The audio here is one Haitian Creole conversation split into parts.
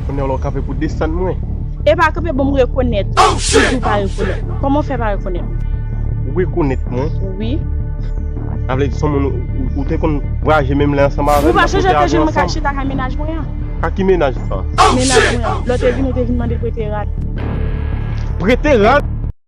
Kounya la w kanpe pou desann mwen. Epa kanpe bon m rekonèt ou. Si tou w pa rekonèt mwen. Kòman w fè pa rekonèt mwen? Ou rekonèt mwen? Wi. Sa vle di son moun ou te konn vwayaje menm lè ansanm avè m. Ou pa chonje te jwenn mwen kap chita kay mennaj mwen an? Kay ki mennaj sa? Mennaj mwen an. Lè w te vini ou te vin mande prete rad. Prete rad?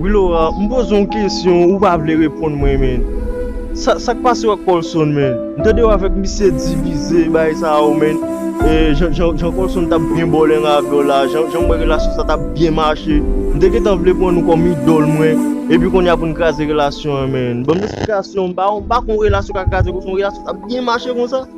Wi Laura, m poze yon kesyon ou pa vle reponn mwen men. Sa sa k pase w ak Colson men? M tande w avèk misye divize bagay sa yo men. E jan jan Colson t ap byen bòlèngan avè w la, jan jan m wè relasyon sa t ap byen mache. M te gentan vle pran nou kòm idòl mwen. Epi kounye a pou n kraze relasyon an men. Ban m esplikasyon, m pa konn relasyon k a kraze konsa, yon relasyon k ap byen mache konsa.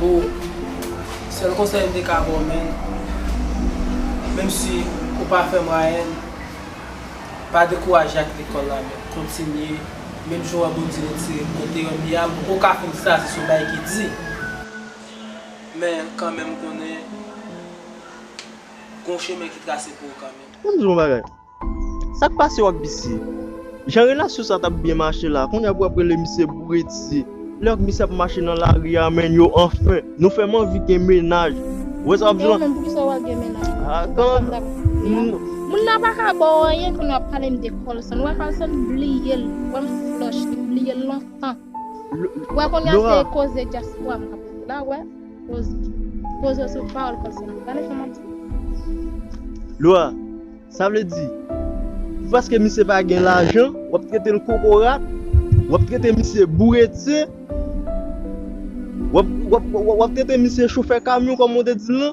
Boo, sèl konsèy m te ka ba w menn, menm si ou pa fè mwayèn, pa dekouraje ak lekòl la men kontinye, menm jan w wè Bondye retire m kote yo m ye a m poko ka fin fraze son bagay ki di, men kanmenm konnen gon chemen ki trase pou ou kanmenm. An m di w yon bagay. Sak pase yo ak bisye. Jan relasyon sa tap byen mache la kounya pou yo ap rele misye bouretye lè yo ak misye ap mache nan lari a menn yo anfen nou fèm anvi gen mennaj ou wè sa wap di lan. Ew menm poukisa wap gen mennaj pou fanm nan ap koute a moun nan paka baw anyen kounya wap palem de colson ou wè colson bliyel ou wèm flush li bliyel lontan ou wè kounya se koze dyaspora mwen ap la ou wè. Pozo sou pawol konsa. Gade sa map di. Lwa, sa vle di, pou paske misye pa gen lajan, wap trete l kokorat, wap trete misye bouretye, wap trete misye chofè kamyon kòm ou te di l lan,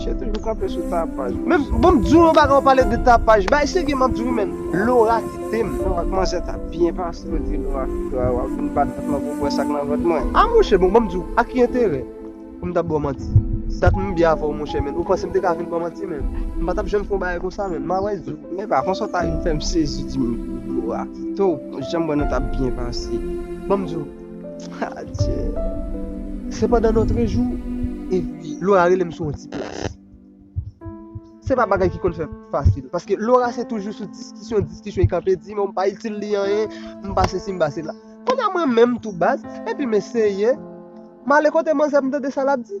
Misye toujou kanpe sou tapaj. Men bon m di w yon bagay ou pale de tapaj. Bay segi m ap di w men Laura kite m. Laura kmanse ap ta byen pase ou di Laura kite w wap vin bat vant mwen pou w wè sak nan vant mwen. A monchè bon ban m di w a ki enterè pou m ta ba w manti. Si ta t menm byen avè w monchè men ou panse m te ka vin ba w manti men m pa tap janm fè yon bagay konsa men ma wè di w. Men epa konsa w ta vin fè m sezi di m Laura kite w janm wè nou tap byen pase. Ban m di w. Adje. Se pandan notre jou e pi Laura rele m sou yon ti plas. Se pa bagay ki konn fè fasil. Paske Laura se toujou sou diskisyon, diskisyon. I kanpe di mwen m pa itil li anyen, m pa se si m pa se la. Konn a mwen menm tou baz, epi m eseye, m ale kote manzè m tande sa l ap di.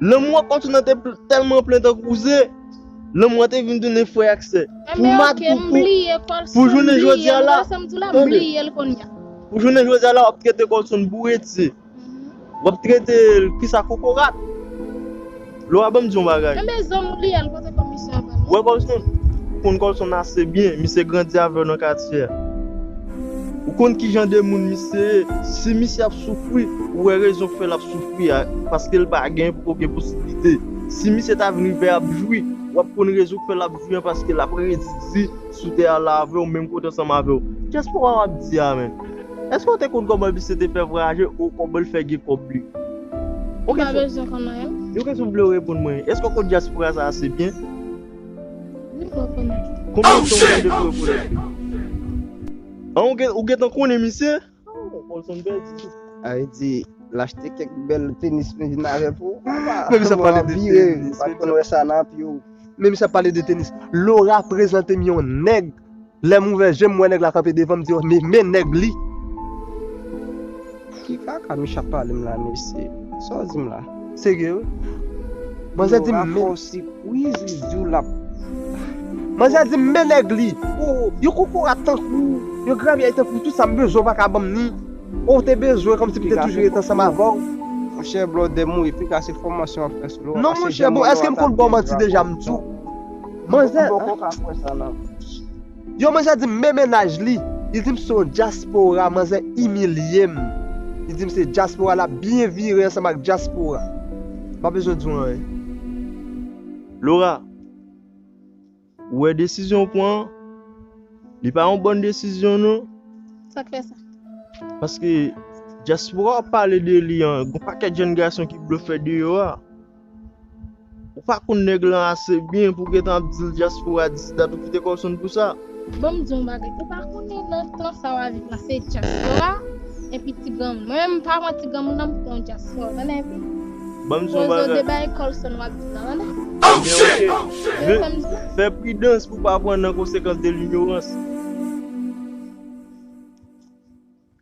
Lanmou an kontinan te tèlman plen tankou ze, lanmou an te vin tounen frè ak sè. Pou mad pou pou, pou jounen jodi a la, tande, pou jounen jodi a la wap trete Colson bouretse, wap trete l kisa kokorat. Lè w a ban m di yon bagay. Wè Colson, ou konn Colson ase byen, misye grandi avèw nan katye a. Ou konn kijan de moun misye ye, si misye ap soufri, ou wè rezon k fè lap soufri a, paskel pa gen poko gen posiblite. Si misye ta vin rive ap jwi, wap konn rezon k fè lap jwi an paskel ap redi di, sou tè a la avè w menm kote ansanm avè w. Kiyès papa w ap di a menm? Èske w te konn kòman misye te fè vwayaje ou kòman l fè gen kòb li? Ou pa bezwen konn anyen. Yon kesyon m vle w reponn mwen. Èske w konn dyaspora sa ase byen? Ni pa w konnen. Konbyen tan ou gen depi w rekonèt li? An ou gen tan konnen misye? Ay di lachte kek bel tenis men vin avè pou Menm sa pale de tenis Pat konn wè sa nan piw Menm sa pale de tenis Laura prezante m yon nèg Lèm ouvè jem m wè nèg la kanpe devanm di oh men nèg li Ki kaka Mica ap pale m la mesye Sa w di m la. Serye wi. Manzè di men. Manzè di men nèg li. Yon kokorat tankou w, yon gravyèy tankou w tout sa m bezwen w pa ka banm ni. O w te bezwen kòm si m te toujou ret ansanm avè w. Monchè blòdè mouri pika se fòmasyon wap fè sou lò. Non monchè bon èske m konn ba w manti deja m di w. Manzè. Ou poko ka kwè sa nan. Yon manzè dim men mennaj li, li dim se yon dyaspora, manzè imilyem, li dim se dyaspora lap byen vire ansanm ak dyaspora. M pa bezwen diw anyen. Laura, ou wè desizyon ou pran an, li pa yon bòn desizyon non. Sak fè sa? Paske dyaspora wap pale de li an, gon pakèt jèn gason ki blofè deyò a. Ou pa konn nèg lan ase byen pou gentan ap dil dyaspora disidat ou kite kòw sonn pou sa. Banm diw yon bagay ou pa konnen nan tan sa wap viv la se dyaspora epi ti granmoun mwen menm pa pran ti granmoun nan m pran yon dyaspora tande epi Banm diw yon bagay Poze w debay Colson wap di nan tande. Ebyen ok Tande sam di w. Fè pridans pou pa pran nan konsekans de linyorans.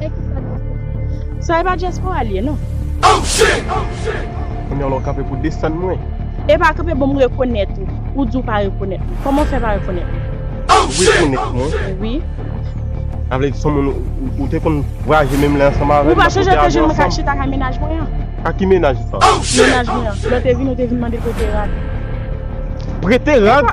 Hey ki sa diaspora. Sa e pa diaspora li ye non. Oh shit! Kounya la w kanpe pou desann mwen. Epa kanpe bon m rekonèt ou. Ou di w pa rekonèt mwen. Kòman w fè pa rekonèt mwen? Ou rekonèt mwen? Wi. Sa vle di son moun ou te konn vwayaje menm lè ansanm avè m. Ou pa chonje ke je mwen ka chita kay mennaj mwen an? Kay ki mennaj sa? Oh shit! Mennaj mwen an. Lè w te vini ou te vin mande prete rad. Prete rad?